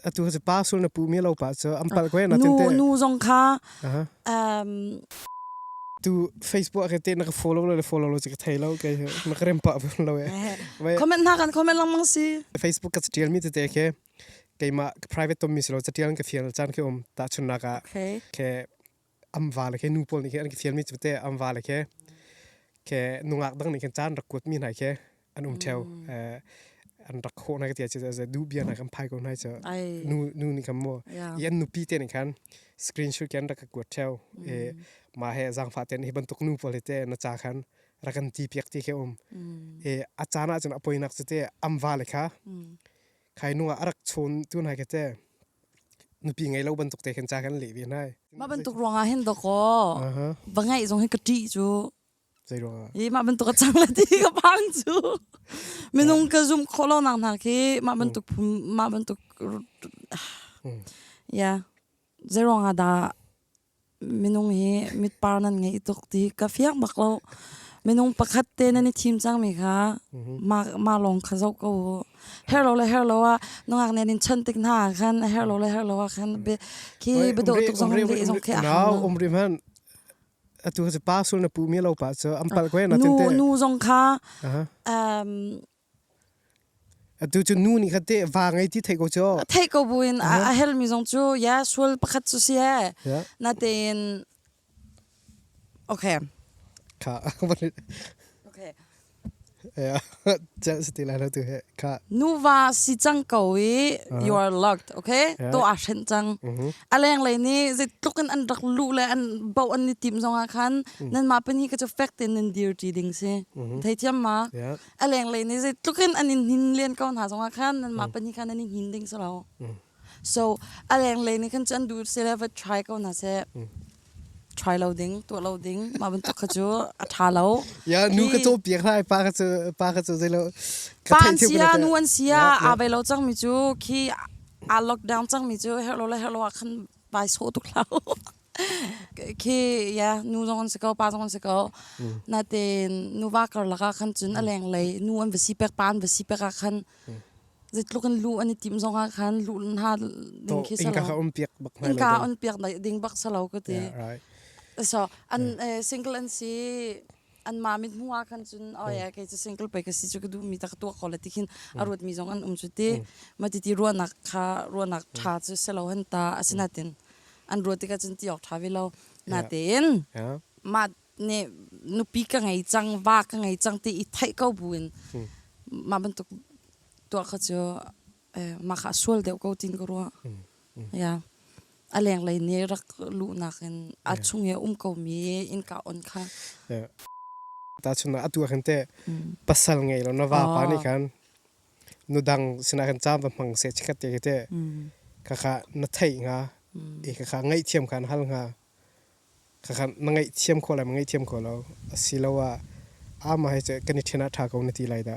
atu cu pa sul na pu mi lo pa cu am pal ko na tin te nu zong kha um tu facebook ke te na ka follow lo le follow lo chi ka thei lo ke na ka rem pa lo e comment na kan comment lang mang si facebook ka tial mi te te ke keima private tom mi silo tial ka fial chan ke om ta chun na ka ke am va le khe nu pawl nih khin an ki fial mi cu te am va le khe ke nungak dang nih khin caan rak kuat mi hna khi an um theo an rak ho na ka tia chu du bia na kan phai ko nai chu nu nu ni kam mo i an nupi te ne khan screenshot ke an rak kuat theo e ma he zang fa ten hi bantuk nu pawl te na cha khan rakan ti piak ti ke um e a chana chun apoi nak chu te am va le kha khai nu ah arak chun tu nai ke te nupi ngai lo bantuk te khin cha kan le ve nai mah bantuk ruangah hin doko va ngai zong hi ka ṭi cu zei ruangah i mah bantuk a chang le ti ka phang cu minung ka zum kho lo nang hna khi mah bantuk mah bantuk ya zei ruangah dah Minung hi mitpar nan ngei tuk ti ka fiang bak lo. Minung pakhat te nan i thim cangmi kha ma lawng kha zoh ko u. Her lo le her lo ah nungak nen in chon tik hna ah khan her lo le her lo ah khan khi biadawh tuk zong le zong khi a hang lo. Umri hman atu ka pa sul na pu mi lo pa cu an pal kwe na tinte. Nu nu zong kha Atu cu nu nih khan te va ngei ti thei ko cu. Thei ko bu in a hel mi zong cu yeah sual pakhat cu si he. Na tein Okay. Kha Okay. Yeah. Just still I to he. Kha. Nuva si cang ko i you are locked. Okay. To a hren cang. Aleng le ni zit tluk in an rak lu le an bau an ni tim zong ah khan nan ma pani ka chu fact in nan dir ti ding si. Thei thiam ma. a lenglei ni zeitluk in an in hnin len ko hna zongah khan nanmah mm. pahnih khan an i hnin ding si lo mm. so a lenglei ni khan cu an duh sila va try ko hna seh mm. try lo ding tuah lo ding mah bantuk kha cu a tha lo ya nu ka to piak lai pa ka cu pa ka cu zai lo ka pa an sia nu an sia a bai lo chang mi cu khi a lockdown chang mi cu her lo la her lo khan bai so tuk lau khi ya nu zong an si ko pa zong an si ko natein nuva karlak ah khan cun a leng lei nu an va si pek pa an va si pek ah khan zeitluk in lu an i tim zong ah khan lu hna ding khi salo inka um piak bak nai inka on piak ding bak salo ka ti so an single an si anmah mit hmu ah khan cun o ya kei cu single pei ka si chu ka duh mi ta ka tuak ko le tikhin a ruat mi zong an um chu ti ma ti ti ruanak kha ruanak ṭha cu selo han ta asinatin an ruat tikah cun ti awk ṭha ve lo na tein mah ne nupi ka ngei cang va ka ngei cang ti i theih ko bu in mah bantuk tuak kha cu eh, maka sual deuh ko tin ka ruah ya a leng lei ne rak lu nak in a chung ye um ko mi in ka on kha ta chung na atu khan te pasal ngei lo na va pa ni khan nu dang sina khan cham va mang se chikat te te ka kha na thei nga e ka kha ngai thiam khan hal nga ka kha na ngai thiam kho la ngai thiam kho lo asilowa ama hai che kan ni thena tha ko na ti lai da